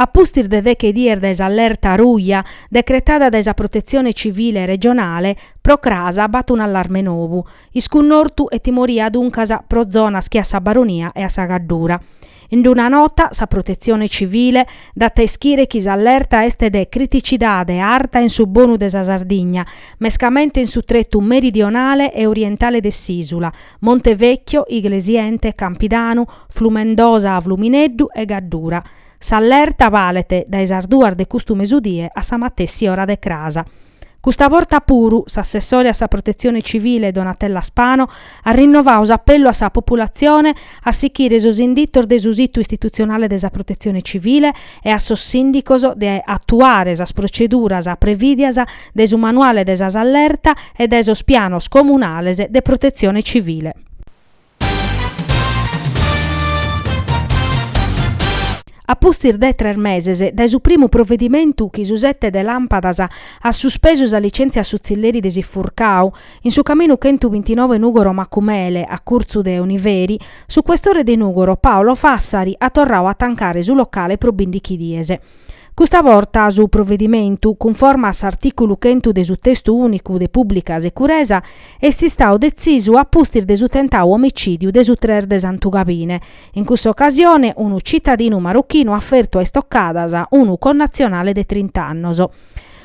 A pustis de deche dies dae s'allerta ruja decretada dae sa Protetzione Civile regionale, pro cras b'at un'allarme nou. Iscunnortu e timoria duncas pro zonas che a sa Baronia e a sa Gaddura. In una nota sa Protetzione Civile dat a ischire chi s'allerta est de criticidade arta in su bonu de sa Sardigna, mescamente in su tretu meridionale e orientale de s'ìsula, Montevecchio, Iglesiente, Campidanu, Flumendosa, Flumineddu e Gaddura. S'allerta balet dae sas duas de custu mesudie a sa matessi ora de cras. Custa borta puru, s'assessore a sa Protetzione Civile Donatella Spano at rinnovau s'apellu a sa populatzione a sichire sos inditos de su situ istitutzionale de sa Protetzione Civile e a sos sìndicos de atuare sas proceduras previdias dae su manuale de sas allerta e dae sos pianos comunales de protetzione civile. A pustis de tres meses dae su primu provedimentu chi su Sete de Làmpadas at suspesu sa litzèntzia a su tzilleri de s'Ifurcau, in su caminu chentu bintinove Nùgoro-Macumele, a curtzu de Oniveri, su questore de Nùgoro Paolo Fassari at torrau a tancare su locale pro bìndichi dies. Custa borta su provedimentu, cunforme a s'artìculu chentu de su Testu Ùnicu de Pùblica Securesa, est istau detzisu a pustis de su tentau omicìdiu de su tres de Santugabine, in cussa ocasione unu citadinu marochinu at fertu a istocadas unu connatzionale de trint'annos.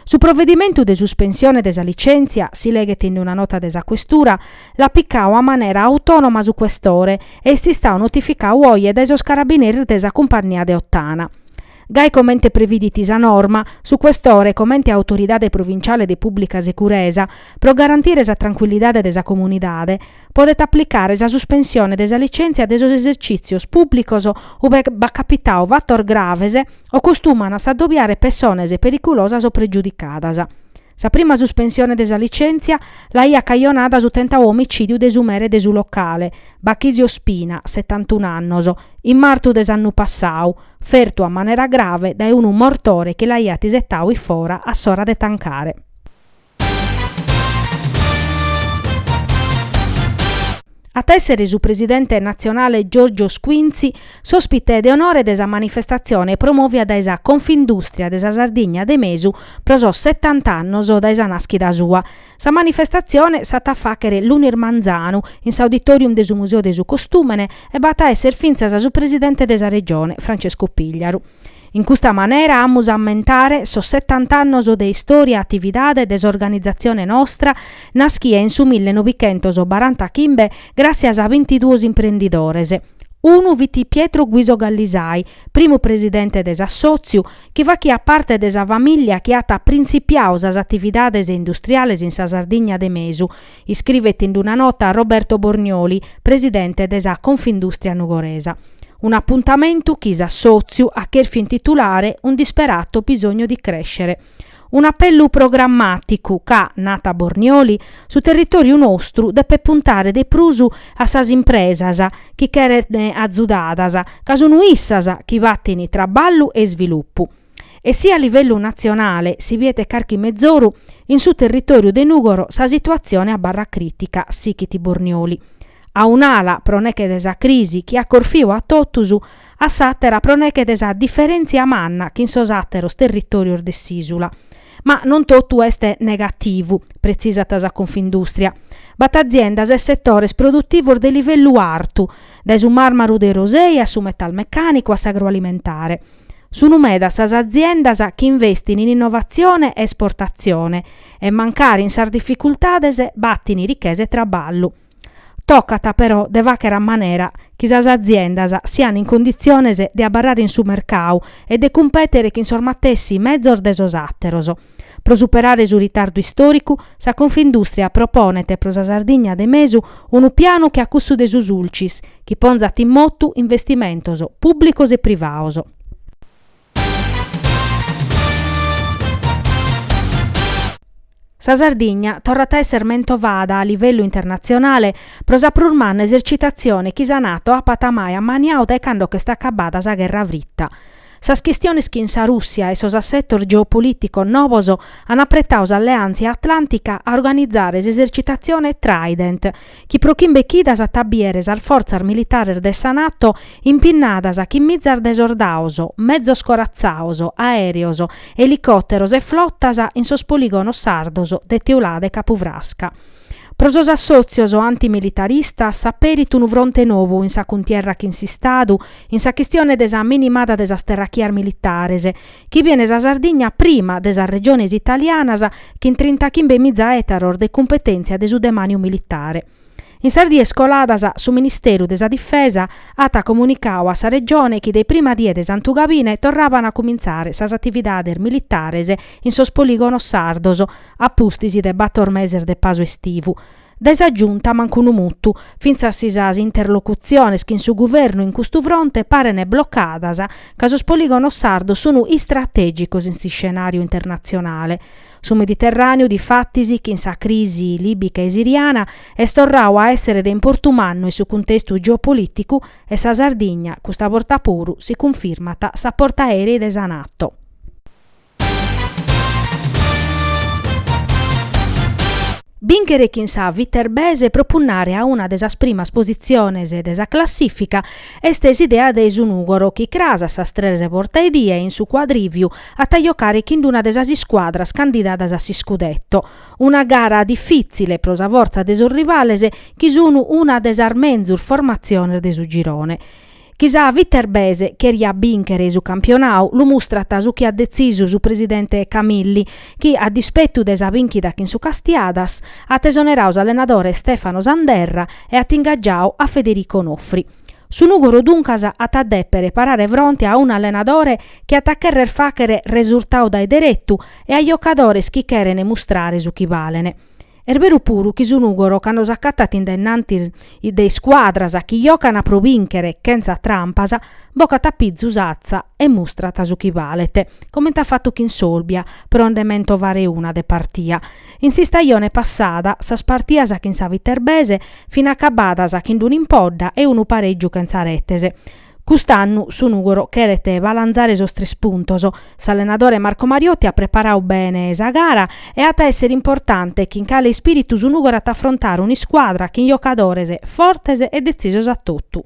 Su provedimentu de suspensione de sa licèntzia, si leghet in una nota de sa Questura, l'at picau a manera autònoma su Questore e est istau notificau oje dae sos carabineris de sa cumpannia de Ottana. Gai comente previdit sa norma, su Questore, comente autoridade provinciale de pùblica securesa, pro garantire sa trancuillidade de sa comunidade, podet aplicare sa suspensione de sa licèntzia de sos esercìtzios pùblicos ue b'at capitau fatos graves o costuman a s'adobiare pessones periculosas o pregiudicadas. Sa prima suspensione de sa licèntzia l'aiat cajonada su tentau omicìdiu de su mere de su locale, Bachisio Spina, setantunu annos, in martu de s'annu passau, fertu a manera grave dae unu mortore chi l'aiat isetau in fora a s'ora de tancare. At a èssere su presidente natzionale Giorgio Squinzi s'òspite de onore de sa manifestatzione promòvia dae sa Confindùstria de sa Sardigna de Mesu pro sos setant'annos dae sa nàschida sua. Sa manifestatzione s'at a fàchere lunis manzanu in s'Auditorium de su Museo de su Costùmene e b'at a èssere fintzas su presidente de sa Regione, Francesco Pigliaru. In custa manera amus a ammentare sos setant'annos de istòria e atividade de s'organizatzione nostra Naschiat in su mille novichentos barantachimbe gràssias a bintiduos imprendidores. Unu fit Pietro Guiso Gallisai, primu presidente de s'assòtziu, chi faghiat parte de sa famìllia chi at printzipiadu sas atividades industriales in sa Sardigna de mesu, iscrivet in una nota Roberto Bornioli, presidente de sa Confindustria nugoresa. Un'apuntamentu chi s'assòtziu at chèrfiu intitulare Un disperato bisogno di crescere. Un'apellu programmàticu ca, narat Bornioli, su territòriu nostru depet puntare de prus a sas impresas chi cherent azudadas, ca sunt issas chi batin traballu e isvilupu. E si a livellu natzionale si biet carchi mezoru, in su territòriu de Nùgoro sa situatzione abarrat crìtica, sighit Bornioli. a un'ala pro neche de sa crisi chi at corfiu a totus, a s'àtera pro neche de sa diferèntzia manna chin sos àteros territòrios de s'ìsula. Ma non totu est negativu, pretzisat sa Confindùstria. B'at aziendas e setores produtivos de livellu artu, dae su màrmaru de Orosei a su metalmecànicu a s'agroalimentare. Sunt medas sas aziendas chi investint in innovatzione e esportatzione e, mancari in sas dificultades, batin richesa e traballu. Tocat però de fàghere a manera chi sas aziendas siant in conditziones de abarrare in su mercadu e de cumpètere chin sos matessi mezos de sos àteros. Pro superare su ritardu istòricu, sa Confindùstria proponet pro sa Sardigna de mesu unu pianu che a cussu de su Sulcis, chi ponzat in motu investimentos pùblicos e privados. Sa Sardigna torrat a esser mentovada a livellu internatzionale pro sa prus manna esercitatzione chi sa Nato apat mai ammaniadu dae cando ch'est acabbada sa gherra frita. Sas chistiones chin sa Rùssia e sos assetos geopolìticos nobos an apretadu s'alleàntzia atlàntica a organizare s'esercitatzione Trident, chi pro chimbe chidas at a bìere sas fortzas militares de sa Nato impinnadas chin mizas de sordados, mezos coratzados, aèreos, elicòteros e flotas in sos polìgonos sardos de Teulada e Capu Frasca. Pro sos assòtzios antimilitaristas s'aperit unu fronte nou in sa cuntierra chin s'Istadu in sa chistione de sa minimada de sas terrachias militares, chi bien sa Sardigna prima de sas regiones italianas chin trinta chimbe miza ètaros de cumpetèntzia de su demàniu militare. In sas dies coladas su Ministeru de sa Difesa at comunicadu a sa Regione chi dae prima die de santugabine torraban a cumintzare sas atividades militares in sos polìgonos sardos a pustis de bator meses de pasu estivu, Dae sa Giunta mancu unu mutu. Fintzas si sas interlocutziones chin su Guvernu in custu fronte parene blocadas ca sos polìgonos sardos sunu istratègicos in s'iscenàriu internatzionale. Su Mediterràneu, difatis, chin sa crisi lìbica e siriana, est torradu a èssere de importu mannu in su cuntestu geopolìticu e sa Sardigna, custa borta puru, si cunfirmat sa portaerei de sa Nato. Bìnchere chin sa Viterbese pro punnare a una de sas primas positziones de sa classìfica est s'idea de su Nùgoro chi cras a sas tres bortaedie in su Quadrivio at a jocare chin una de sas iscuadras candidadas a s'iscudetto. Una gara difìtzile pro sa fortza de sos rivales chi sun una de sas menzus formatziones de su girone. Chi sa Viterbese cheriat bìnchere su campionau lu mustrat su chi at detzisu su presidente Camilli, chi a dispetu de sa bìnchida chin su Castiadas, at esonerau s'allenadore Stefano Sanderra e at ingaggiau a Federico Nofri. Su Nùgoro duncas at a dèpere parare fronte a unu allenadore chi at a cherrer fàchere resurtau dae deretu e a jocadores chi cherent mustrare su chi balent. Est beru puru chi su Nùgoro cando s'acatat in dennanti de iscuadras chi jocant pro bìnchere chentza trampas, bocat a pizu s'atza e mustrat su chi balet, comente at fatu chin s'Olbia, pro nde mentovare una de partia. In s'istajone passada sas partias chin sa Viterbese fin acabadas chin d'un'impodda e unu parègiu chentza retes. Cust'annu su Nùgoro cheret balanzare sos tres puntos. S'allenadore Marco Mariotti at preparadu bene sa gara e at a èssere importante chin cale ispìritu su Nùgoro at a afrontare un'iscuadra chin jocadores fortes e detzisos a totu.